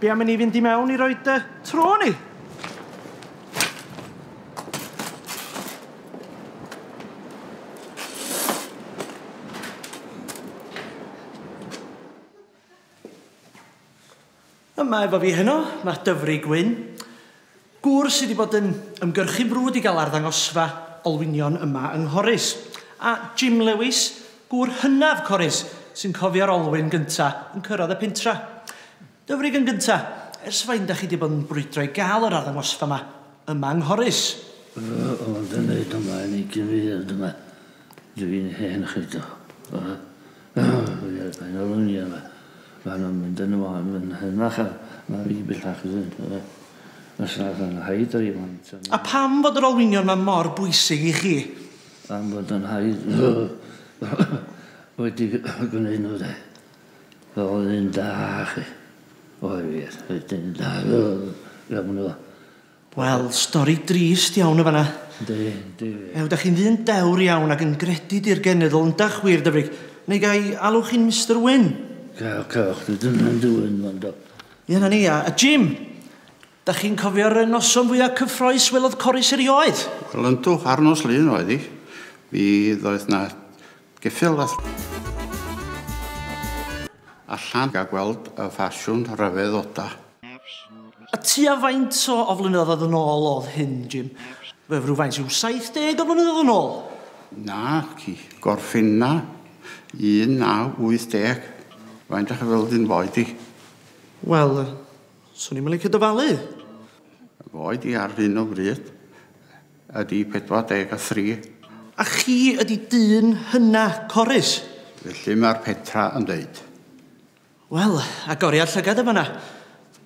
Be am i ni fynd i mewn i roed y tro ni? Yma efo fi heno, mae Dyfri Gwyn. Gŵr sydd 'di bod yn ymgyrchu'n frwd i gael arddangosfa olwynion yma yng Nghorris. A Jim Lewis, gŵr hynaf Corris sy'n cofio'r olwyn gynta yn cyrraedd y pentra. Dyfrig yn gynta, ers faint da chi 'di bod yn brwydro i gael yr arddangosfa 'ma yma yng Nghorris? Fy mod yn neud ymlaen i gyfeiriad yma, dw i'n hen chredo. Mae nw'n mynd yn y wal yn henach a ma' fi bellach i fynd efo fe. Os nad yn rhaid o i blant a... A pam fod yr olwynion 'ma mor bwysig i chi? Pam fod yn rhaid wedi gwneud n'w de? Fel o'dd e'n da chi. Oedd wir oedd e'n da iawn efo Wel, stori drist iawn yn fanna. Yndi, yndi. Ew, da chi'n ddyn dewr iawn ac yn gredu di'r genedl, yndach wir, Dyfrig? Neu gai alw chi'n Mister Wyn? Cael, cewch, dwi dyna'n dywyn, fan do. Ie, na ni, a, a Jim, da chi'n cofio'r noson fwyaf cyffroes welodd Corris erioed? Wel, yndw, ar nos Lun oedd hi. Mi ddoeth na Ceffyl a allan a gweld y ffasiwn rhyfedd oda. A tua faint o o flynyddoedd yn ôl oedd hyn, Jim? Wel, rhywfaint rhyw 70 o flynyddoedd yn ôl? Na, ci. Gorffenna 1980. Faint dach chi feddwl dyn fo i di? Wel, swn i'm yn licio dyfalu. Fo i di ar hyn o bryd. Ydy 43. A chi ydy dyn hynna, Corris? Felly mae'r Petra yn dweud. Wel, agoriad llygad yn fan'na.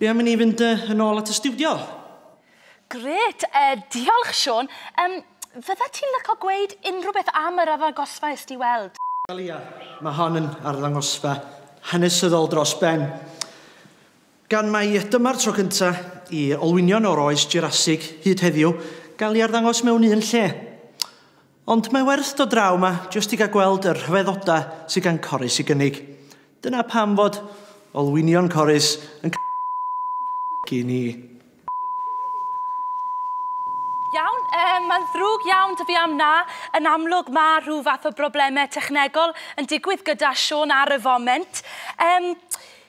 Be am i ni fynd yy yn ôl at y stiwdio? Grêt! Yy, diolch, Siôn. Yym, fyddet ti'n lico gweud unrhyw beth am yr arddangosfa est ti i weld? Wel, ia, mae hon yn arddangosfa hanesyddol dros ben. Gan mai dyma'r tro cyntaf i olwynion o'r oes Jurasig hyd heddiw gael ei arddangos mewn un lle. Ond mae werth dod draw 'ma jyst i gael gweld y rhyfeddodau sydd gan Corris i gynnig. Dyna pam fod olwynion Corris yn c***** i ni. Iawn, yy, mae'n ddrwg iawn 'da fi am 'na. Yn amlwg, ma' rhyw fath o broblemau technegol yn digwydd gyda Siôn ar y foment. Yym,